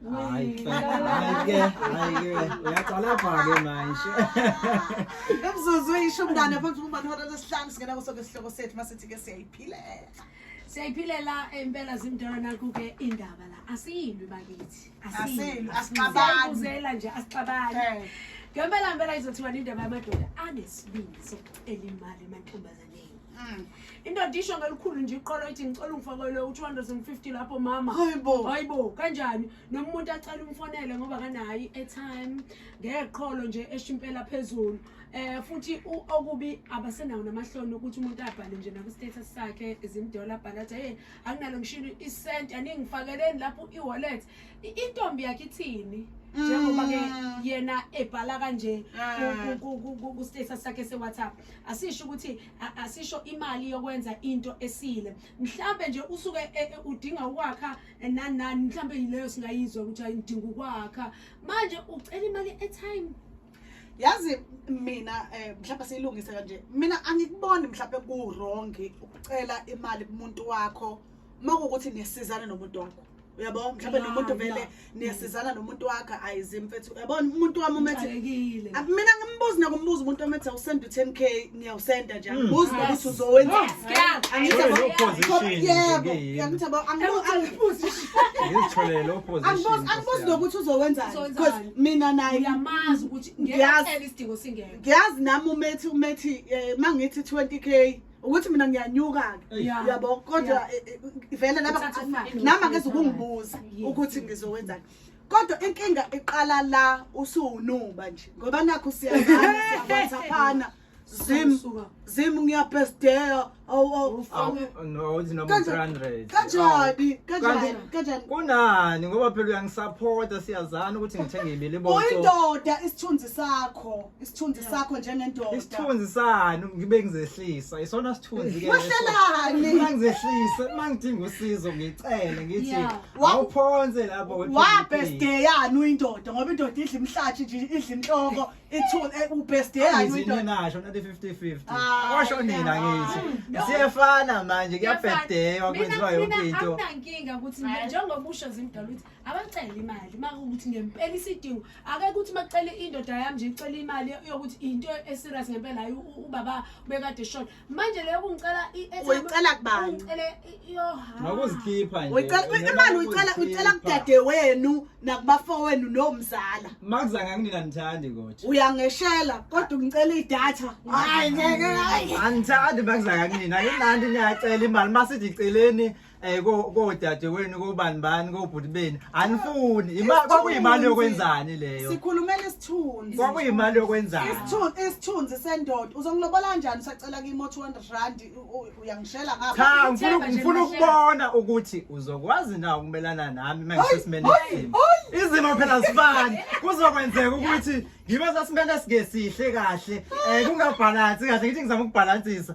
Hayi ke, hayi ke, hayi ke. Uyaqala pha ke manje. Imzuzu eyishumi nane phambi kokuba ihora lesihlanu singena kuso ke sihloko sethu masithi ke siyayiphilela. Siyayiphilela impela zimdala nakho ke indaba la. Asiyilwi bakithi. Asiyilwi, asixabani. Siyayibuzela nje asixabani. Eh. Ngempela ngempela izothiwa indaba yamadoda anesibindi sokucela imali emantombazane. Mm. indoda isho ngelikhulu nje iqolo ithi ngicela ungifakele u-250 lapho mama hayibo hayibo kanjani noma umuntu acela umfonele ngoba kanayi airtime ngeqholo nje esho impela phezulu eh futhi okubi abasenawo namahloni ukuthi umuntu abhale nje naku-status sakhe izimdola abhale athi hey akunalo ngishilo isenti aningifakeleni lapho i-wallet intombi yakhe ithini njengoba-ke mm. yena ebhala kanje ah. ku-status sakhe se-whatsapp asisho ukuthi asisho imali yokwenza into esile mhlambe nje usuke e, e, udinga ukwakha eh, nani nani mhlambe yileyo singayizwa ukuthi ayidinga ukwakha manje ucela imali etime yazi mina eh mhlawumbe siyilungise kanje mina angikuboni mhlawumbe ku wrong ukucela imali kumuntu wakho uma kuwukuthi niyasizana nomuntu wakho uyabo mhlawumbe nomuntu vele niyasizana nomuntu wakhe ayizi mfethu uyabona umuntu wami umethe mina ngimbuzi nakumbuza umuntu omethe usenda u-ten k ngiyawusenda nje angibuzi nokuthi uzowenza angibuzi nokuthi uzowenzani because mina naye ngiyazi nami umethi umethi eh, uma ngithi twenty k ukuthi mina ngiyanyuka-ke Eish. Yeah. yabo kodwa Yeah. eh, eh, vele laba Uthatha imali. nama ngeze ukungibuza Yes. ukuthi ngizokwenzani kodwa inkinga iqala la usuwunuba nje ngoba nakho siyazana siyawhatsaphana zim Usuka. zim ngiyabhesteya awu awu Ufa. awu Awu, no izinoma Kanjani? 300 kanjani kanjani Kanjani? kanjani kunani ngoba phela uyangisaphota siyazana ukuthi ngithenge ibili boso uyindoda isithunzi sakho isithunzi sakho njengendoda isithunzi sani ngibe ngizehlisa isona sithunzi ke wahlelani mangizehlise mangidinga usizo ngicele ngithi Yeah. Wa- awuphonse lapho kodwa wabhesteyani uyindoda ngoba indoda idla imhlathi nje idla inhloko ithuni eh, ubhesteyani Angizinye uyindoda nasho nathi 50-50 Ah, washo nina yeah. ngithi siyefana manje kuyabhedeywa kwenziwa yonke into akunankinga ukuthi nje njengoba usho zimdala ukuthi abacele imali makuwukuthi ngempela isidingo ake kuthi makucele indoda yami nje icele imali yokuthi into eserious ngempela hayi ubaba bekade shona manje leyo kungicela uyicela kubani ngicele yohakuzikhipha nje uyicela imali uyicela uyicela kudade wenu nakubafo wenu nomzala makuza ngakunina nithandi kodwa uyangeshela kodwa ngicela idata hayi ngeke hayi anithandi makuza ngakunina ngilandi ngiyacela imali masithi iceleni eh kodadewenu kobani bani kobhuti beni anifuni imali kwakuyimali yokwenzani leyo sikhulumela isithunzi kwakuyimali yokwenzani isithunzi isithunzi sendoda uzongilobola kanjani usacela kimi 200 rand uyangishela ngapha cha ngifuna ngifuna ukubona ukuthi uzokwazi na ukumelana nami mangisesimene isimo izimo phela zifani kuzokwenzeka ukuthi ngibe sesimene singesihle kahle eh kungabhalansi kahle ngithi ngizama ukubhalansisa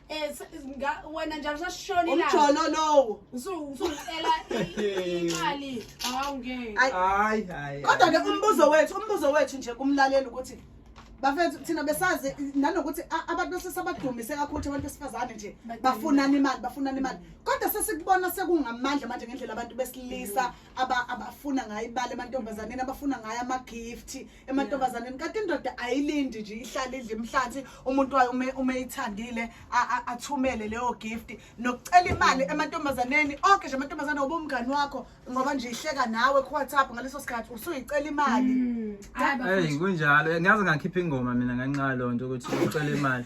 Eh, s- nga- wena njalo sasishona ilanga umjolo lowo Usu- usucela i- imali hawu ngeke Ay- hayi hayi kodwa-ke umbuzo wethu umbuzo wethu nje kumlaleli ukuthi bafethu thina besazi nanokuthi a- abantu besesabadumise kakhulu ukuthi abantu besifazane nje bafunani imali bafunani imali kodwa sesikubona sekungamandla manje ngendlela abantu besilisa aba- abafuna ngayo imali emantombazaneni abafuna ngayo amagifti emantombazaneni kanti indoda ayilindi nje ihlale idla imhlanzi umuntu wayo ume umeyithandile athumele leyo gift nokucela imali emantombazaneni onke nje amantombazane ngoba umngani wakho ngoba nje ihleka nawe ku WhatsApp ngaleso sikhathi usuyicela imali mm. hey kunjalo ngaze ngakhipha ingoma mina nganxa lonto ukuthi ucela imali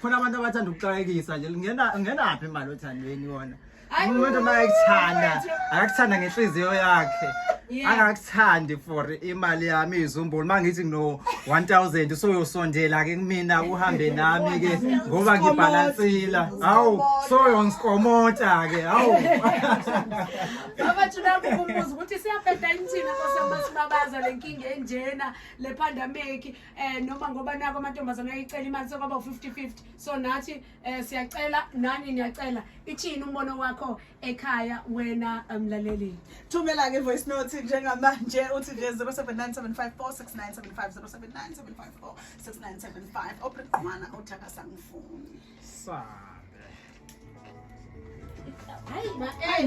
khona abantu abathanda ukuxakekisa nje ngena ngenaphi imali othandweni yona Hayi, umuntu uma ekuthanda wethu. akakuthanda ngenhliziyo yakhe Yeah. angakuthandi for imali yami izumbulu uma ngithi ngino 1000 soyosondela ke kumina uhambe nami ke ngoba ngibhalansila hawu soyongikomota ke hawu abathula kukumbuza ukuthi siyabheda inthina kosamasibabazwa le nkinga enjena le pandemic eh noma ngoba nako amantombazana ayicela imali sokwaba u50-50 so nathi eh siyacela nani niyacela ithini umbono wakho ekhaya wena eh, mlaleli thumela ke voice note njengamanje uthi nje 0797546975 opriqwana uthaka sangifuni sa hayi ma eh